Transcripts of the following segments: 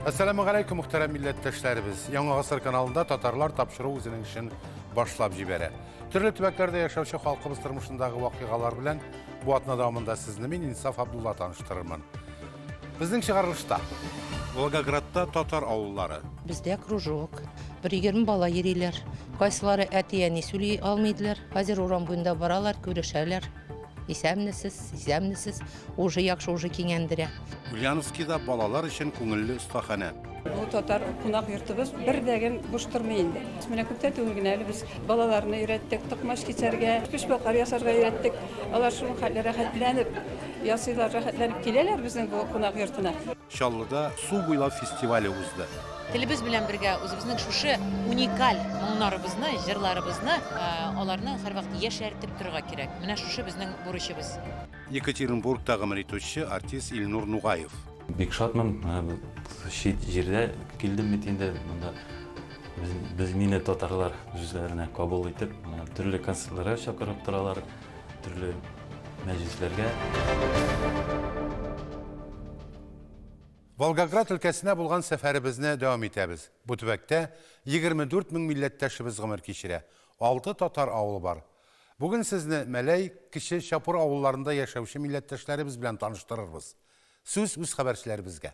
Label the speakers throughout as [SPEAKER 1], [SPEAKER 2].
[SPEAKER 1] Әссәламу галәйкүм, мөхтәрәм милләттәшләребез. Яңа гасыр каналында татарлар тапшыру үзенең эшен башлап җибәрә. Төрле төбәкләрдә яшәүче халкыбыз тормышындагы вакыйгалар белән бу атна дәвамында сезне мин Инсаф Абдулла таныштырырмын. Безнең чыгарылышта Волгоградта татар авыллары. Бездә кружок. Бер егерме бала йөриләр. Кайсылары әти-әни сөйли алмыйдылар. Хәзер урам буенда баралар, күрешәләр. Исәнмесез, исәнмесез. Уже яхшы, уже кинәндерә. Ульяновскида балалар өчен күңелле остаханә. Бу татар кунак йортыбыз бер дә гем буш тормый инде. Менә күптә түгел генә әле без балаларны өйрәттек, токмач кисәргә, пешбакар ясарга өйрәттек. Алар шул хәтле рәхәтләнеп ясыйлар, рәхәтләнеп киләләр безнең бу кунак йортына. Чаллыда Су буйлап фестивале узды. Телебез белән бергә үзебезнең шушы уникаль моңнарыбызны, җырларыбызны, аларны һәрвакыт яшәртеп торырга кирәк. Менә шушы безнең бурычыбыз. Екатеринбург та гомер итүче артист Илнур Нугаев. Бик шатмын, чит җирдә килдем бит инде, монда без мине татарлар үзләренә кабул итеп, төрле концертларга чакырып торалар, төрле мәҗлесләргә. Волгоград өлкәсенә булган сәфәребезне дәвам итәбез. Бу төбәктә 24 мең милләттәшебез гомер кичерә. Алты татар авылы бар. Бүген сезне Мәләй, Кече Чапур авылларында яшәүче милләттәшләребез белән таныштырырбыз. Сүз үз хәбәрчеләребезгә.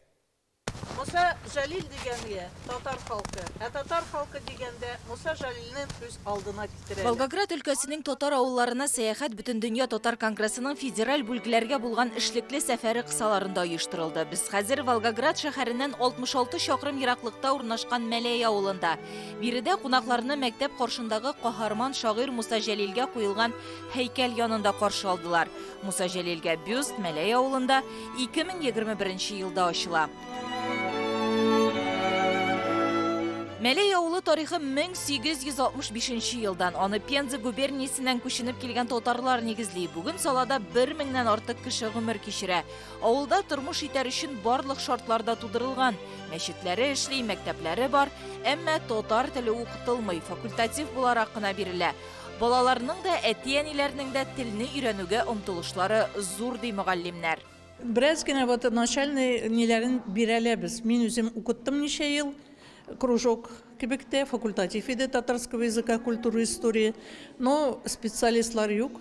[SPEAKER 1] Муса Җәлил дигәнге, татар халкы. Ә татар халкы дигәндә, Муса Җәлилне күз алдына китерәләр. Волгоград өлкәсенең татар авылларына сәяхәт Бөтендөнья татар конгрессының федераль бүлгләргә булган эшлекле сәфәре кысаларында оештырылды. Без хәзер Волгоград шәһәреннән 66 чакрым ераклыкта урнашкан Мәләй авылында. Биредә кунакларны мәктәп каршындагы каһарман шагыйрь Муса Җәлилгә куелган һәйкәл янында каршы алдылар. Муса Җәлилгә бюст Мәләй авылында 2021 елда ачыла. Мәләй авылы тарихы 1865 елдан, аны Пенза губерниясеннән күченеп килгән татарлар нигезли. Бүген салада бер меңнән артык кеше гомер кичерә. Авылда тормыш итәр өчен барлык шартлар да тудырылган. Мәчетләре эшли, мәктәпләре бар, әмма татар теле укытылмый, факультатив буларак кына бирелә. Балаларның да, әти-әниләрнең дә телне өйрәнүгә омтылышлары зур, ди мөгаллимнәр. Бераз генә вот начальный ниләрен бирәләр без. Мин үзем укыттым ничә ел, кружок кебек тә, факультатив иде татарского языка, культуры, истории. Но специалистлар юк.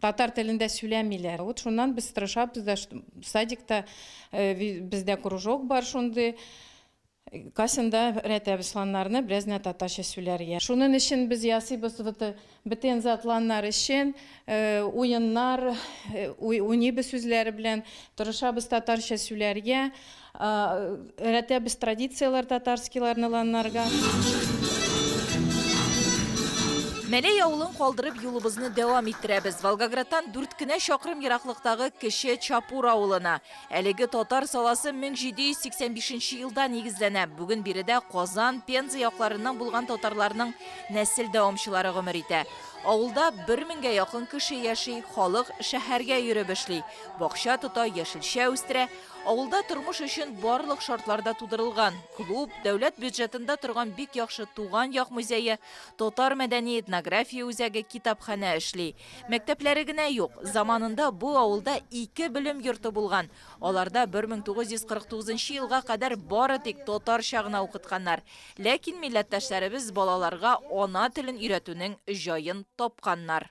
[SPEAKER 1] Татар телендә сүләмиләр. Вот шуннан без тырышабыз да, садикта бездә кружок бар шундый, касенда рәтәбез сланнарны, бераз генә татарча сүләргә. Шунын өчен без ясыйбыз вот бетен затланнар өчен уеннар, уйныйбыз үзләре белән, тырышабыз татарча сүләргә. Өйрәтәбез традицияләр татарскийларны ланнарга. Мәләй авылын калдырып юлыбызны дәвам иттерәбез. Волгоградтан дүрт кенә чакрым ераклыктагы кече Чапур авылына. Әлеге татар саласы 1785 елда нигезләнә. Бүген биредә Казан, Пенза якларыннан булган татарларның нәсел дәвамчылары гомер итә. Авылда бер меңгә якын кеше яши, халык шәһәргә йөреп эшли, бакча тота, яшелчә үстерә. Авылда тормыш өчен барлык шартлар да тудырылган. Клуб, дәүләт бюджетында торган бик яхшы Туган як музее, татар мәдәни-этнография үзәге, китапханә эшли. Мәктәпләре генә юк. Заманында бу авылда ике белем йорты булган. Аларда 1949 елга кадәр бары тик татарча гына укытканнар. Ләкин милләттәшләребез балаларга ана телен өйрәтүнең җаен тапканнар.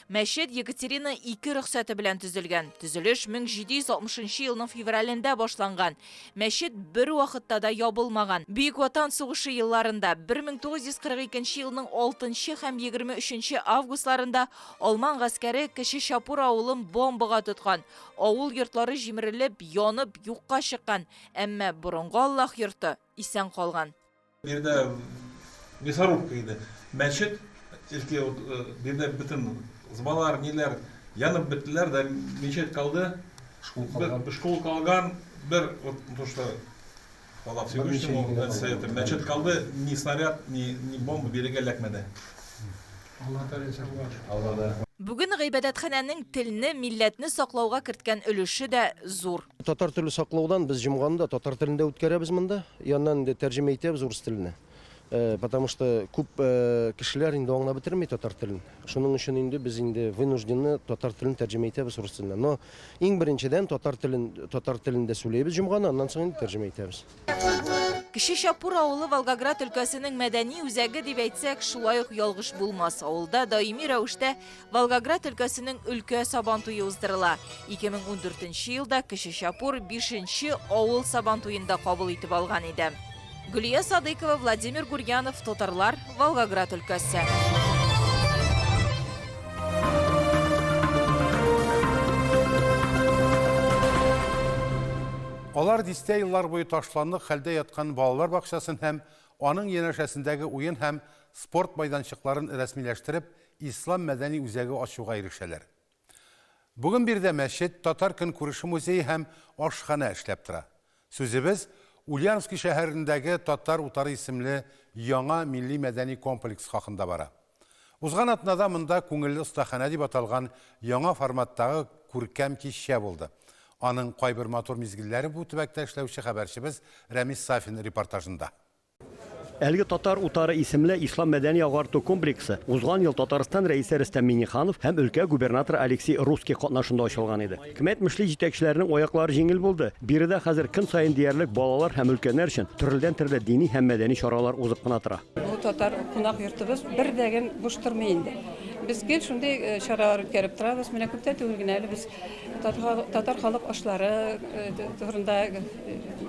[SPEAKER 1] Мәчет Екатерина II рөхсәте белән төзелгән. Төзелеш 1760 елның февралендә башланган. Мәчет бер вакытта да ябылмаган. Бөек Ватан сугышы елларында, 1942 елның 6 һәм 23 августларында алман гаскәре Кече Чапур авылын бомбага тоткан. Авыл йортлары җимерелеп, янып, юкка чыккан, әмма борынгы Аллаһ йорты исән калган. Биредә мясорубка иде. Мәчет элекке вот биредә бөтен зыбалар, ниләр янып беттеләр дә, мечеть калды. Школ калган. Школ калган, бер вот то, что Аллах Всевышнему совета. Мәчет калды, ни снаряд, ни ни бомба бирегә эләкмәде. Аллаһ Тәгалә саклады. Аллаһ. Бүген гыйбадәтханәнең телне, милләтне саклауга керткән өлеше дә зур. Татар теле саклаудан без җомганы да татар телендә үткәрәбез монда. Яннан инде тәрҗемә итәбез урыс теленә. Э, потому что күп э, кешеләр инде аңлап бетерми татар телен. Шуның өчен инде без инде вынуждены татар телен тәрҗемә итәбез урыс теленә. Но иң беренчедән татар телен татар телендә сөйләйбез җомганы, аннан соң инде тәрҗемә итәбез. Кече Чапур авылы Волгоград өлкәсенең мәдәни үзәге дип әйтсәк, шулай ук ялгыш булмас. Авылда даими рәвештә Волгоград өлкәсенең өлкә сабан туе уздырыла. 2014 елда Кече Чапур 5 авыл сабан туен да кабул итеп алган иде. Гөлия Садыкова, Владимир Гурьянов, Татарлар, Волгоград өлкәсе. Алар дистә еллар буе ташландык хәлдә яткан балалар бакчасын һәм аның янәшәсендәге уен һәм спорт майданчыкларын рәсмиләштереп, Ислам мәдәни үзәге ачуга ирешәләр. Бүген биредә мәчет, татар көнкүреше музее һәм ашханә эшләп тора. Сүзебез Ульяновски шәһәрендәге Татар утары исемле яңа милли-мәдәни комплекс хакында бара. Узган атнада монда Күңелле остаханә дип аталган яңа форматтагы күркәм кичә булды. Аның кайбер матур мизгелләре бу төбәктә эшләүче хәбәрчебез Рәмис Сафин репортажында. Әлеге Татар утары исемле ислам мәдәни-агарту комплексы узган ел Татарстан Рәисе Рөстәм Миңнеханов һәм өлкә губернаторы Алексей Русский катнашында ачылган иде. Кем әйтмешли, җитәкчеләрнең аяклары җиңел булды. Биредә хәзер көн саен диярлек балалар һәм өлкәннәр өчен төрледән-төрле дини һәм мәдәни чаралар узып кына тора. Бу татар кунак йортыбыз бер дә гел буш тормый инде. Без гел шундый э, чаралар үткәреп торабыз. Менә күптән түгел генә әле без татар, татар халык ашлары э, т- турында э,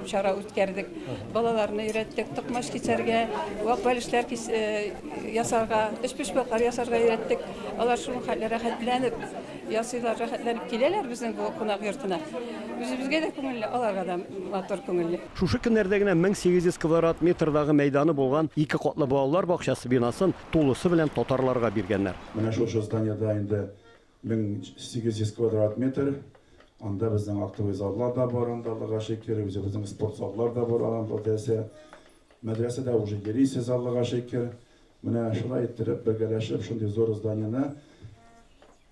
[SPEAKER 1] чара үткәрдек. Балаларны өйрәттек токмач кисәргә, вак бәлешләр кис- э, ясарга, өчпочмаклар ясарга өйрәттек. Алар шул хәлле рәхәтләнеп ясыйлар, рәхәтләнеп киләләр безнең бу кунак йортына. Үзебезгә дә күңелле, аларга да матур күңелле. Шушы көннәрдә генә 1800 квадрат метрдагы мәйданы булган ике катлы балалар бакчасы бинасын тулысы белән татарларга биргәннәр. Менә шушы зданиедә инде 1800 квадрат метр. Анда безнең актовый заллар да бар, анда Аллага шөкер, үзебезнең спорт заллар да бар, аның өлкәсе. Мәдрәсәдә уже йөрисез, Аллага шөкер. Менә шулай иттереп, бергәләшеп шундый зур зданиене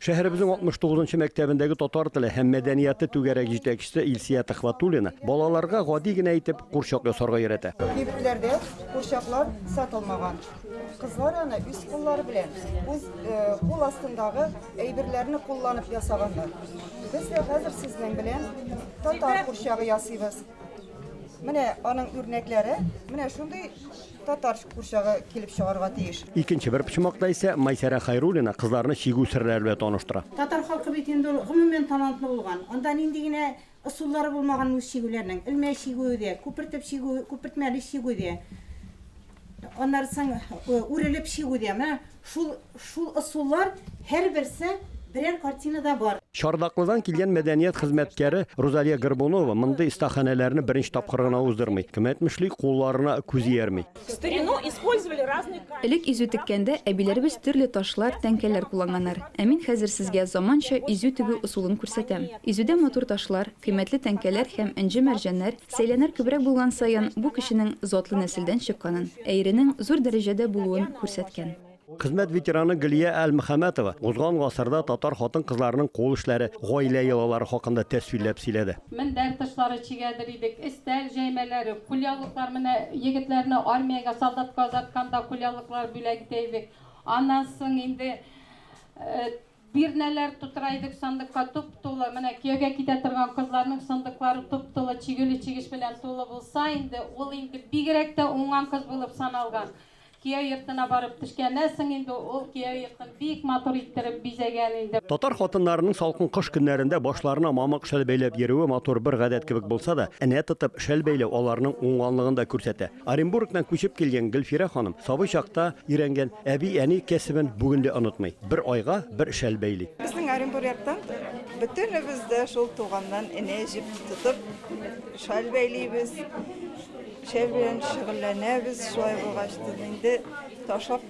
[SPEAKER 1] Шәһәребезнең 69 нчы мәктәбендәге татар теле һәм мәдәнияты түгәрәге җитәкчесе Илсия Төхвәтуллина балаларга гади генә итеп курчак ясарга өйрәтә. Кибетләрдә курчаклар сатылмаган. Кызлар аны үз куллары белән, үз кул астындагы әйберләрне кулланып ясаганнар. Без дә хәзер сезнең белән татар курчагы ясыйбыз. Менә аның үрнәкләре, менә шундый Татар курчагы килеп чыгарга тиеш. Икенче бер почмакта исә Майсәрә Хайруллина кызларны чигү серләре белән таныштыра. Татар халкы бит инде ул гомумән талантлы булган. Анда нинди генә ысуллары булмаган мус чигүләрнең. Элмә чигүе дә, күпертеп чигү, күпертмәле чигү дә. Аннары соң үрелеп чигү дә. Менә Шул, шул ысуллар һәрберсе берәр картинада бар. Чардаклыдан килгән мәдәният хезмәткәре Рузалия Горбунова мондый остаханәләрне беренче тапкыр гына уздырмый. Кем әйтмешли, кулларына күз иярми. Элек изү теккәндә әбиләребез төрле ташлар, тәңкәләр кулланганнар. Ә мин хәзер сезгә заманча изү тегү ысулын күрсәтәм. Изүдә матур ташлар, кыйммәтле тәңкәләр һәм энҗе-мәрҗәннәр сәйләнәр күбрәк булган саен, бу кешенең затлы нәселдән чыкканын, ә иренең зур дәрәҗәдә булуын күрсәткән. Хезмәт ветераны Гөлия Әлмөхәмәтова узган гасырда татар хатын-кызларының кул эшләре, гаилә йолалары хакында тәфсилләп сөйләде. Мендәр тышлары чигәдер идек, өстәл җәймәләре, кулъяулыклар, менә егетләрне армиягә, солдатка озатканда кулъяулыклар бүләк итә идек. Аннан соң инде Бирнәләр тутыра идек сандыкка туп-тулы. Менә кияүгә китә торган кызларның сандыклары туп-тулы чигүле чигеш белән тулы булса инде, ул инде бигрәк тә уңган кыз булып саналган. Кияү йортына барып төшкәннән соң инде ул кияү йортын бик матур иттереп бизәгән инде. Татар хатыннарының салкын кыш көннәрендә башларына мамык шәл бәйләп йөрүе матур бер гадәт кебек булса да, энә тотып шәл бәйләү аларның уңганлыгын да күрсәтә. Оренбургтан күчеп килгән Гөлфирә ханым сабый чакта өйрәнгән әби-әни кәсебен бүген дә онытмый, бер айга бер шәл бәйли. Безнең Оренбургтан бөтенебез дә шул туганнан энә җеп тотып шаль бәйлибез, шәл белән шөгыльләнәбез. Шулай булгач, инде ташлап.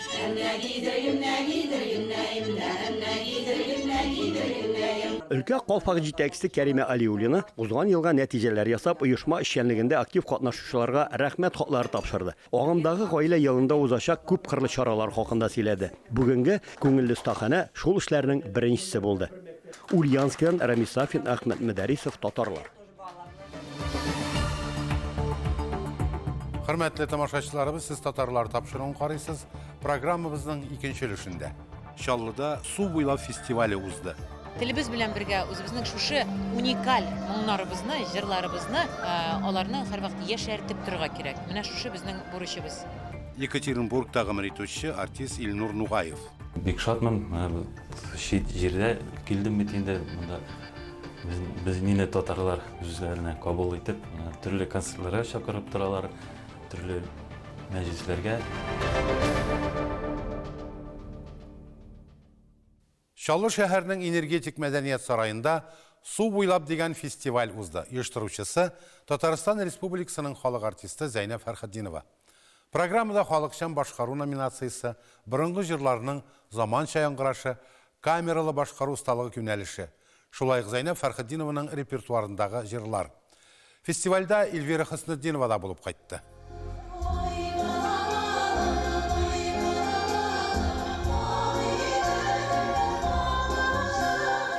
[SPEAKER 1] Өлкә калфак җитәкчесе Кәримә Алиуллина узган елга нәтиҗәләр ясап, оешма эшчәнлегендә актив катнашучыларга Рәхмәт хатлары тапшырды. Агымдагы гаилә елында узачак күпкырлы чаралар хакында сөйләде. Бүгенге Күңелле остаханә шул эшләрнең беренчесе булды. Ульяновскидан Рамис Сафин, Әхмәт Мөдәрисов, Татарлар. Хөрмәтле тамашачыларыбыз, сез татарлар тапшыруын карыйсыз. Программабызның икенче өлешендә Чаллыда су буйлап фестивале узды. Телебез белән бергә үзебезнең шушы уникаль моңнарыбызны, җырларыбызны, э, аларны һәрвакыт яшәртеп торырга кирәк. Менә шушы безнең бурычыбыз. Екатеринбургта гомер итүче артист Илнур Нугаев. Бик шатмын, менә чит җирдә килдем бит инде, монда Без, без милли татарлар үзләренә кабул итеп, э, төрле концертларга чакырып торалар, төрле мәҗлесләргә. Чаллы шәһәрнең энергетик мәдәният сараенда Су буйлап дигән фестиваль узды. Оештыручысы Татарстан Республикасының халык артисты Зәйнәб Фәрхетдинова. Программада халыкчан башкару номинациясе, борынгы җырларның заманча яңгырашы, камералы башкару осталыгы юнәлеше, шулай ук Зәйнәб Фәрхетдинованың репертуарындагы җырлар. Фестивальдә Эльвира Хөснетдинова да булып кайтты.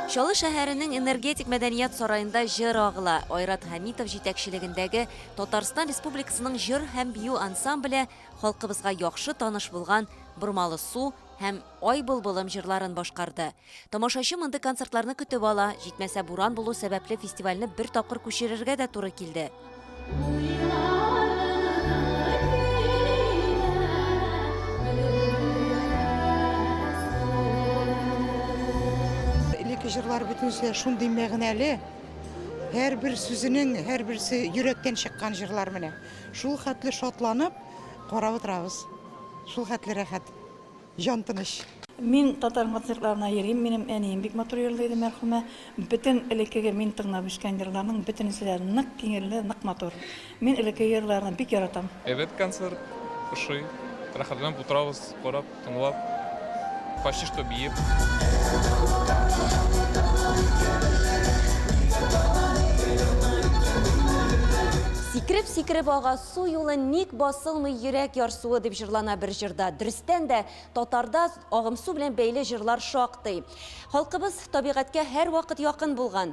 [SPEAKER 1] Чаллы шәһәренең Энергетик мәдәният сараенда җыр агыла, Айрат Хәмитов җитәкчелегендәге Татарстан Республикасының җыр һәм бию ансамбле халкыбызга яхшы таныш булган Бормалы су һәм Ай былбылым җырларын башкарды. Тамашачы мондый концертларны көтеп ала, җитмәсә буран булу сәбәпле фестивальне бер тапкыр күчерергә дә туры килде. Элекке җырлар бөтенесе шундый мәгънәле. Һәрбер сүзенең, һәрберсе йөрәктән чыккан җырлар менә. Шул хәтле шатланып карап утырабыз. Шул хәтле рәхәт, җан тыныч. Мин татар концертларына йөрим, минем әнием бик матур йырлый иде, мәрхүмә. Бөтен элеккеге мин тыңлап үскән җырларның бөтенесе дә нык киңелле, нык матур. Мин элекке йырларны бик яратам. Әйбәт концерт, ошый. Рәхәтләнеп утырабыз, карап, тыңлап, почти что биеп. Сикереп-сикереп ага су юлы ник басылмый йөрәк ярсуы дип җырлана бер җырда. Дөрестән дә татарда агымсу белән бәйле җырлар шактый. Халкыбыз табигатькә һәрвакыт якын булган.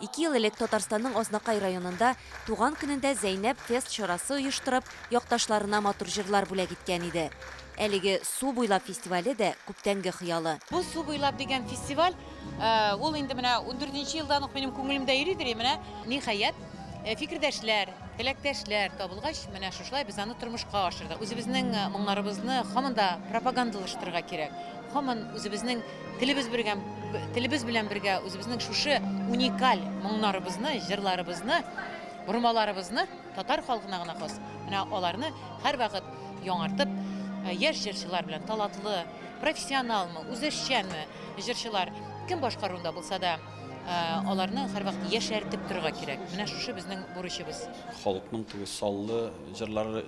[SPEAKER 1] Ике ел элек Татарстанның Азнакай районында туган көнендә Зәйнәб фест чарасы оештырып, якташларына матур җырлар бүләк иткән иде. Әлеге Су буйлап фестивале дә күптәнге хыялы. Бу Су буйлап дигән фестиваль, ул инде менә ундүртенче елдан ук минем күңелемдә йөридер, и менә, ниһаять, фикердәшләр, теләктәшләр табылгач, менә шушылай без аны тормышка ашырдык. Үзебезнең моңнарыбызны һаман да пропагандалаштырырга кирәк, һаман үзебезнең Телебез бергә, телебез белән бергә үзебезнең шушы уникаль моңнарыбызны, җырларыбызны, бормаларыбызны татар халкына гына хас. Менә аларны һәрвакыт яңартып, э, яшь җырчылар белән талатлы, профессионалмы, үзешчәнме җырчылар кем башкаруда булса да, э, аларны һәрвакыт яшәртеп торырга кирәк. Менә шушы безнең бурычыбыз. Халыкның теге саллы җырлары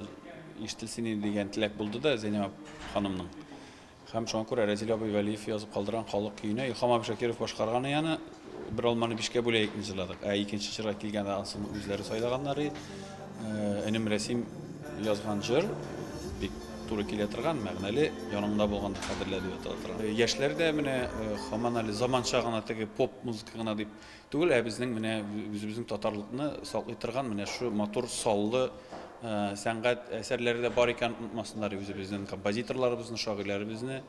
[SPEAKER 1] ишетелсен иде дигән теләк булды да Зәйнәб ханымның. Һәм шуңа күрә Рәзил абый Вәлиев язып калдырган Халык көенә Илһам абый Шакиров башкарган ияне Бер алманы бишкә бүләек ны җырладык. Ә икенче җырга килгәндә ансын үзләре сайлаганнар и. Энем Рәсим язган җыр бик туры килә торган, мәгънәле, Яныңда булганда кадерлә дип атала торган. Яшьләр дә менә хаман әле заманча гына теге поп музыка гына дип Түгел, ә безнең менә үзебезнең татарлыкны саклый торган менә шу матур саллы сәнгать әсәрләре дә бар икән, онытмасыннар үзебезнең композиторларыбызны, шагыйләребезне.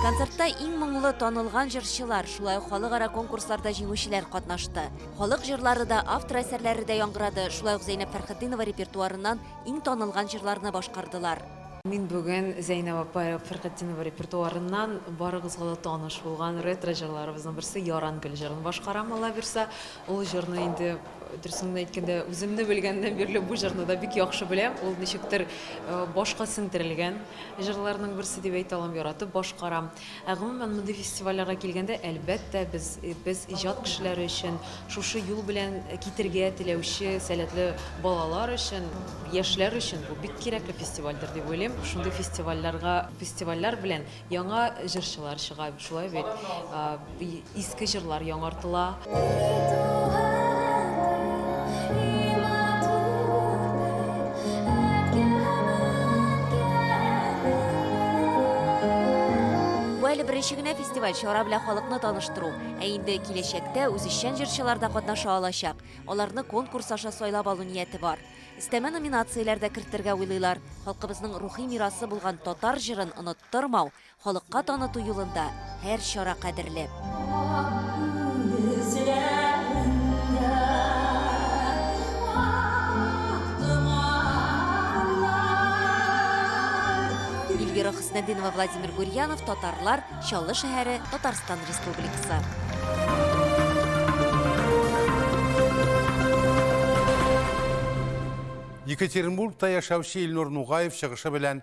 [SPEAKER 1] Концертта иң моңлы, танылган җырчылар, шулай ук халыкара конкурсларда җиңүчеләр катнашты. Халык җырлары да, автор әсәрләре дә яңгырады, шулай ук Зәйнәп Фәрхетдинова репертуарыннан Иң танылган җырларны башкардылар. Мин бүген Зәйнәб апа Фәрхетдинова репертуарыннан барыгызга да таныш булган ретро җырларыбызның берсе Яран гөл җырын башкарам, аллабирса. Ул җырны инде, дөресен генә әйткәндә, үземне белгәннән бирле бу җырны да бик яхшы беләм. Ул ничектер башка сеңдерелгән җырларның берсе дип әйтә алам, яратып башкарам. Ә гомумән, мондый фестивальләргә килгәндә, әлбәттә, без, без иҗат кешеләре өчен, шушы юл белән китергә теләүче сәләтле балалар өчен, яшьләр өчен бу бик кирәкле фестивальдер дип уйлыйм. Шундый фестивальләргә, фестивальләр белән яңа җырчылар чыга, шулай бит? Иске җырлар яңартыла. Бу әле беренче генә фестиваль, чара белән халыкны таныштыру. Ә инде киләчәктә үзешчән җырчылар да катнаша алачак. Аларны конкурс аша сайлап алу нияте бар. Өстәмә номинацияләр дә кертергә уйлыйлар. Халкыбызның рухи мирасы булган татар җырын оныттырмау, Халыкка таныту юлында һәр чара кадерле. Эльвира Хөснетдинова, Владимир Гурьянов, Татарлар, Чаллы шәһәре, Татарстан Республикасы. Екатеринбургта яшәүче Илнур Нугаев чыгышы белән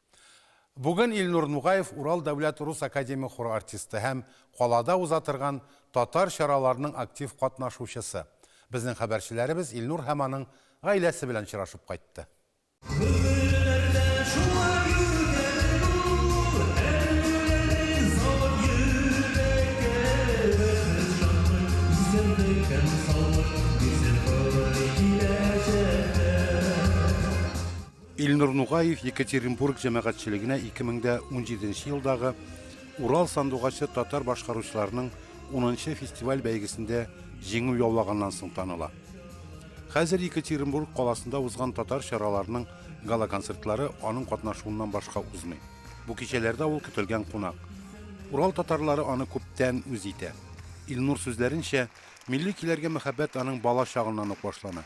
[SPEAKER 1] Бүген Илнур Нугаев Урал дәүләт рус академия хоры артисты һәм калада уза торган татар чараларының актив катнашучысы. Безнең хәбәрчеләребез Илнур һәм аның гаиләсе белән очрашып кайтты. Күңелләрдә шулай йөргән бу Әңгәмәләре зал йөрәккә Бәхет шатлык, исәнлек һәм саулык Бирсен туры киләчәктә. Илнур Нугаев Екатеринбург җәмәгатьчелегенә 2017 елдагы Урал сандугачы татар башкаручыларының 10 фестиваль бәйгесендә җиңү яулаганнан соң таныла. Хәзер Екатеринбург каласында узган татар чараларының гала-концертлары аның катнашуыннан башка узмый. Бу кичәләрдә ул көтелгән кунак. Урал татарлары аны күптән үз итә. Илнур сүзләренчә, милли көйләргә мәхәббәт аның бала чагыннан ук башлана.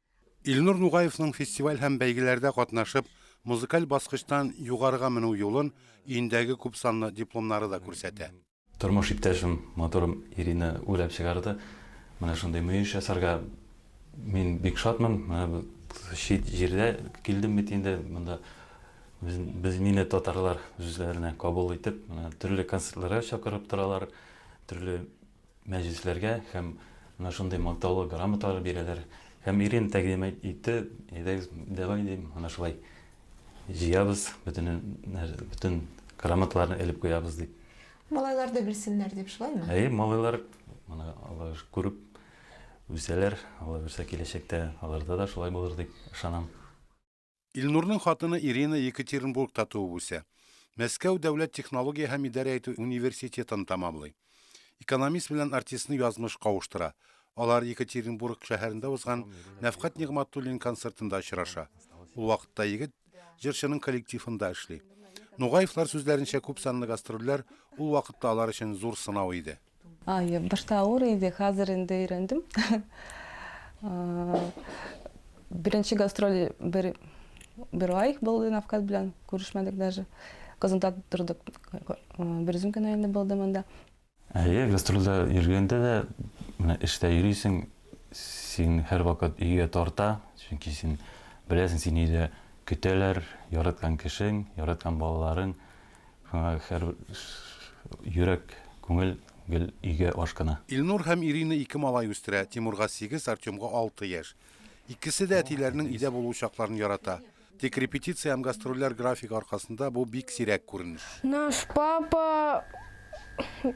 [SPEAKER 1] Илнур Нугаевның фестиваль һәм бәйгеләрдә катнашып, музыкаль баскычтан югарыга менү юлын өендәге күпсанлы дипломнары да күрсәтә. Тормыш иптәшем, матурым Ирина уйлап чыгарды. Менә шундый мөеш ясарга мин бик шатмын. Менә чит җирдә килдем бит инде, монда без мине татарлар үзләренә кабул итеп, төрле концертларга чакырып торалар, төрле мәҗлесләргә һәм менә шундый мактаулы грамоталар бирәләр. Һәм Ирина тәкъдим итте, әйдәгез, давай дим, менә шулай җыябыз, бөтен бөтен грамоталарны элеп куябыз дип. Малайлар да белсеннәр дип шулаймы? Әйе, малайлар моны алар күреп үсәләр, алар үсә киләчәктә аларда да шулай булыр дип ышанам. Илнурның хатыны Ирина Екатеринбургта туып үсә. Мәскәү дәүләт технология һәм идарә итү университетын тәмамлый. Экономист белән артистны язмыш кавыштыра. Алар Екатеринбург шәһәрендә узган Нәфкать Нигъмәтуллин концертында очраша. Ул вакытта егет җырчының коллективында эшли. Нугаевлар сүзләренчә, күпсанлы гастрольләр ул вакытта алар өчен зур сынау иде. Ай, башта авыр иде, хәзер инде өйрәндем. Беренче гастроль бер бер ай булды Навкат белән, күрешмәдек даже. Казанда тордык. Бер үзем генә инде булдым анда. Әйе, гастрольдә йөргәндә дә, менә эштә йөрисең, син һәрвакыт өйгә тарта, чөнки син беләсең, сине өйдә көтәләр, яраткан кешең, яраткан балаларың. Шуңа хәр йөрәк, күңел гел өйгә ашкына. Илнур һәм Ирина ике малай үстерә, Тимурга сигез, Артемга алты яшь. Икесе дә әтиләренең өйдә булу чакларын ярата. Тик репетиция һәм гастрольләр графигы аркасында бу бик сирәк күренеш. Наш папа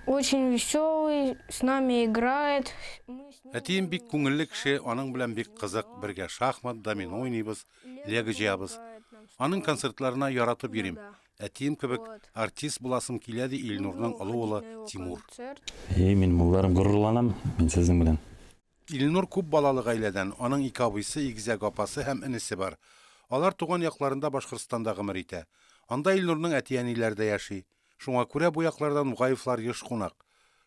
[SPEAKER 1] очень веселый, с нами играет. Әтием бик күңелле кеше, аның белән бик кызык, бергә шахмат, домино уйныйбыз, лего җыябыз. Аның концертларына яратып йөрим. Әтием кебек артист буласым килә, ди Илнурның олы улы Тимур. Әйе, мин мулларым, горурланам мин сезнең белән. Илнур күп балалы гаиләдән, аның ике абыйсы, игезәк апасы һәм энесе бар. Алар туган якларында Башкортстанда гомер итә. Анда Илнурның әти-әниләре дә яши. Шуңа күрә бу якларда Нугаевлар еш кунак.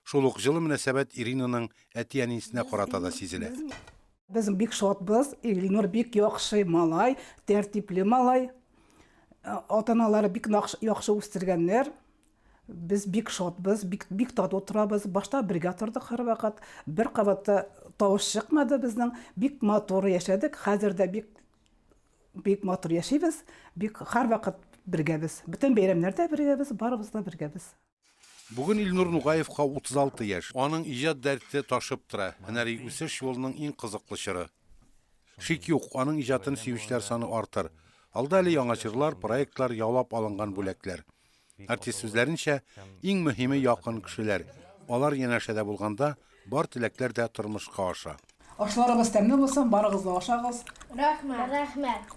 [SPEAKER 1] Шул ук җылы мөнәсәбәт Иринаның әти-әнисенә карата да сизелә. Без бик шатбыз, Илнур бик яхшы малай, тәртипле малай. Ата-аналары бик яхшы үстергәннәр. Без бик шатбыз, бик, бик тату торабыз. Башта бергә тордык һәрвакыт. Бер кабатта тавыш чыкмады безнең. Бик матур яшәдек. Хәзер дә бик, бик матур яшибез. Бик һәрвакыт бергәбез. Бөтен бәйрәмнәрдә бергәбез, барыбыз да бергәбез. Бүген Илнур Нугаевка 36 яшь. Аның иҗат дәрте ташып тора, һөнәри үсеш юлының иң кызыклы чоры. Шик юк, аның иҗатын сөючеләр саны артыр. Алда әле яңа җырлар, проектлар, яулап алынган бүләкләр. Артист сүзләренчә, иң мөһиме якын кешеләр. Алар янәшәдә булганда, бар теләкләр дә тормышка аша. Ашларыгыз тәмле булсын, барыгыз да ашагыз. Рәхмәт. Рәхмәт.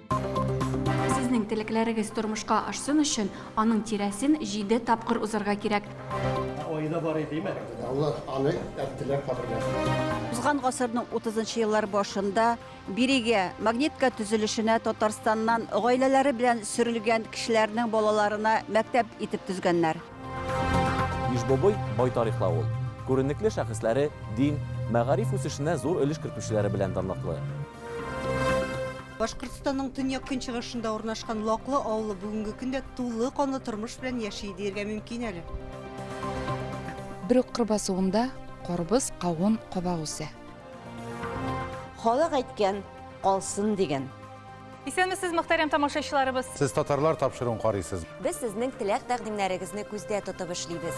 [SPEAKER 1] Сезнең телекләрегез тормышка ашсын өчен, аның тирәсен җиде тапкыр узарга кирәк. Айда бар иде, димә. Алла аны әттеләр каберләр. Узган гасырның 30 нчы еллар башында бирегә, Магнитка төзелешенә Татарстаннан гаиләләре белән сөрелгән кешеләрнең балаларына мәктәп итеп төзгәннәр. Иж-Бобой бай тарихлы авыл. Күренекле шәхесләре, дин, мәгариф үсешенә зур өлеш кертүчеләре белән данлыклы. Башкортстанның төньяк-көнчыгышында урнашкан Лаклы авылы бүгенге көндә тулы канлы тормыш белән яши диергә мөмкин әле. Бер үк кыр басуында карбыз, кавын, каба үсә. Халык әйткән, калсын дигән. Исәнмесез, мөхтәрәм тамашачыларыбыз. Сез татарлар тапшыруын карыйсыз. Без сезнең теләк-тәкъдимнәрегезне күздә тотып эшлибез.